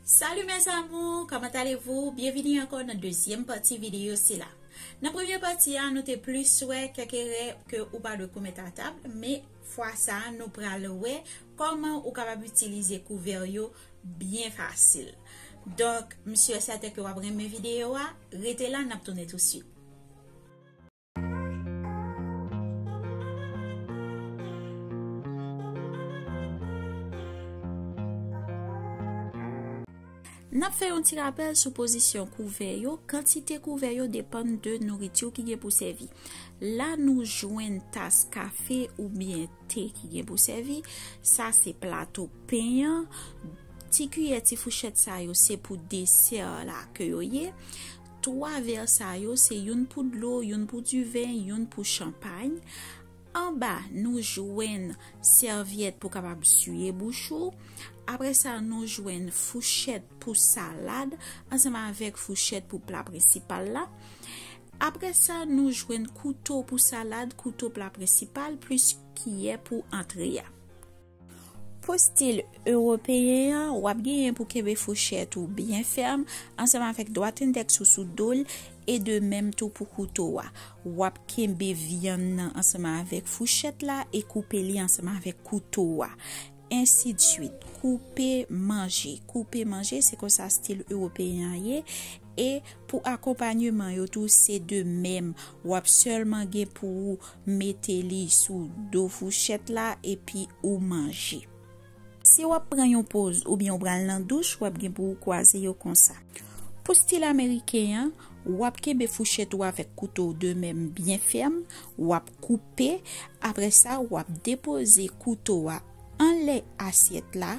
Salut mes amours, comment allez-vous? Bienvenue ankò nan dezyèm pati videyo sila. Nan premye pati a, nou te plis wè kèk erè ke ou pa dwe komèt a tab, men fwa sa a nou pral wè kòman ou kapab itilize kouvè yo byen fasil. Donk, m sure sèten ke w ap renmen videyo a, rete la n ap tounen touswit. N ap fè yon ti rapèl sou pozisyon kouvè yo, kantite kouvè yo depann de nouriti w ki gen pou sèvi. La nou jwenn tas kafe oubyen te ki gen pou sèvi, sa se plato pen an, ti kiyè, ti fouchèt sa yo se pou desè la ke yo ye. Twa vè sa yo se youn pou dlo, youn pou diven, youn pou chanpay. Anba, nou jwenn sèvyèt pou kapab siye bouch ou. Apre sa, nou jwenn fouchèt pou salad ansanm avèk fouchèt pou pla prensipal la. Apre sa, nou jwenn kouto pou salad, kouto pla prensipal, plis kiyè pou antre a. Pou stil ewopeyen an, w ap genyen pou kenbe fouchèt ou byen fèm ansanm avèk dwat endèks ou sou do l, e de menm tou pou kouto a. W ap kenbe vyann nan ansanm avèk fouchèt la e koupe li ansanm avèk kouto a. Ensidsuit, koupe manje. Koupe manje, se konsa stil ewopeyen an ye. E pou akonpanyeman yo tou, se de menm. W ap sèlman gen pou ou. mete li sou do fouchèt la epi ou manje. Si wap pran yon poz oubyen ou pral nan douch wap gen pou ou kwaze yo konsa. Pou stil ameriken an, wap kenbe fouchèt ou avèk kouto w de men byen fèm, wap koupe, aprè sa wap depoze kouto a anlè asyèt la,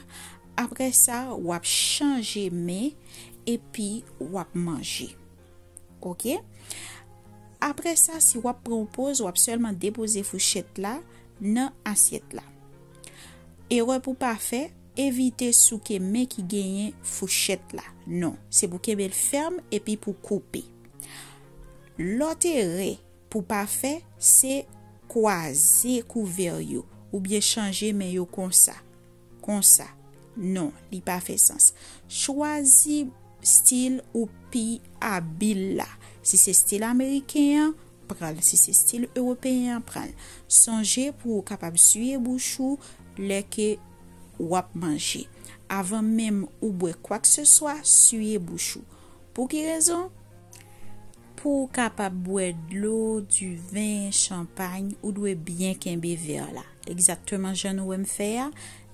aprè sa wap chanje men epi wap manje. Ok. Apre sa, si w ap pran yon poz, w ap sèlman depoze fouchèt la nan asyèt la. Erè pou pa fè, evite souke men ki genyen fouchèt la. Non, se pou kenbe l fèm epi pou koupe. Lòt erè Pou pa fè, se kwaze kouvè yo, oubyen chanje men yo konsa, konsa. Non, li pa fè sans. Chwazi stil ou pi abil la. Si se stil ameriken an, pran l. Si se stil ewopeyen an, pran l. Sonje pou ou kapab siye bouch ou lè ke w ap manje. Avan menm ou bwè kwakeseswa, siye bouch ou. Pou ki rezon? Pou w kapab bwè dlo, diven, chanpay, ou dwe byen kenbe vè la. Egzakteman jan nou wè m fè a,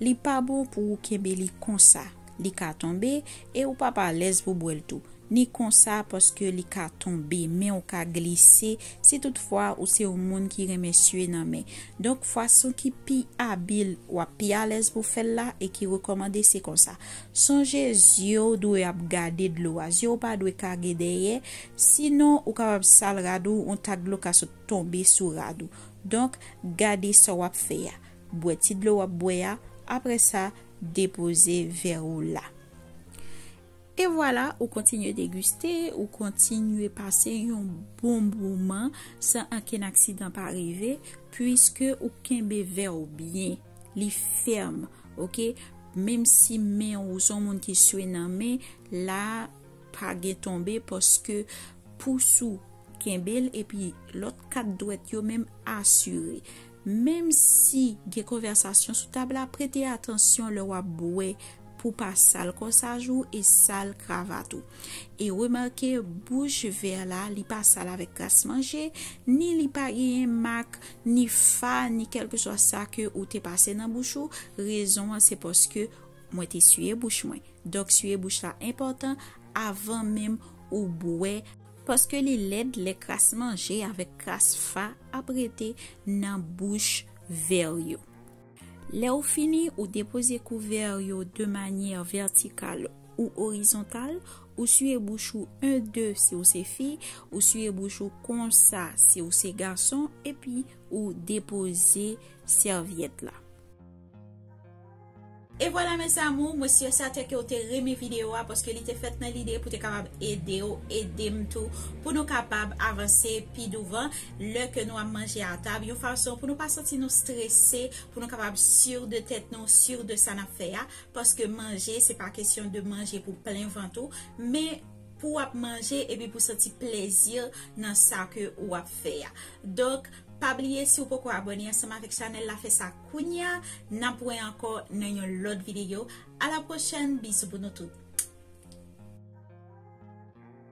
li pa bon pou ou kenbe li konsa. Li ka tonbe e ou p ap alèz pou bwè l tou. Ni konsa paske li ka tonbe, men w ka glise si tout fwa ou se yon moun ki renmen sye nan men. Donk fason ki pi abil, w ap pi alèz pou w fè l la e ki rekòmande se konsa. Sonje zye w dwe ap gade dlo a, zye w pa dwe kage dèyè, sinon ou kapab sal rad ou, yon tak dlo ka sot tonbe sou rad ou. Donk, gade sa w ap fè a. Bwè ti dlo w ap bwè a, apre sa, depoze vè ou la. E vwala, ou kontinye degiste, ou kontinye pase yon bon moman san ankenn aksidan pa rive, puiske ou kenbe vè ou byen, li fèm. ok menm si men ou son moun ki swe nan men la pa gen tonbe paske pous ou kenbel epi lòt kat dwèt yo menm asire menm si gen konvèsasyon sou tab la prete atansyon lè wap bwè pou pa sal kòsaj ou e sal kravat ou e remake bouch vè la li pa sal avèk kras manje ni li pa genyen mak Ni fa, ni kèlkeswa sa ke ou te pase nan bouch ou, rezon an se paske Mwen te siye bouch Mwen. Donk siye bouch la enpòtan avan menm ou bwè, paske li lèd lè kras manje avèk kras fa ap rete nan bouch vè yo. Lè ou fini, ou depoze kouvè yo de manyè vètikal ou orizontal, ou siye bouch ou 1 2 si ou se fi, ou siye bouch ou konsa si ou se gason epi ou depoze sèvyèt la. E vwala mes amour, mwen sur certain ke ou te renmen video a paske li te fèt nan lide pou te kapab edew, edem tou pou nou kapab avanse pi douvan lè ke nou ap manje a tab, yon fason pou nou pa santi nou strese, pou nou kapab sur de tèt nou, sur de sa nap fè a, paske manje se pa kesyon de manje pou plen vant ou, men pou wap manje epi pou santi plezi nan sa ke ou ap fè a. Donk pa bliye si ou poko abone ansanm avèk chanèl la fè sa kounya, nap wè ankò nan yon lòt videyo, a la pwochèn, bizou pou nou tout.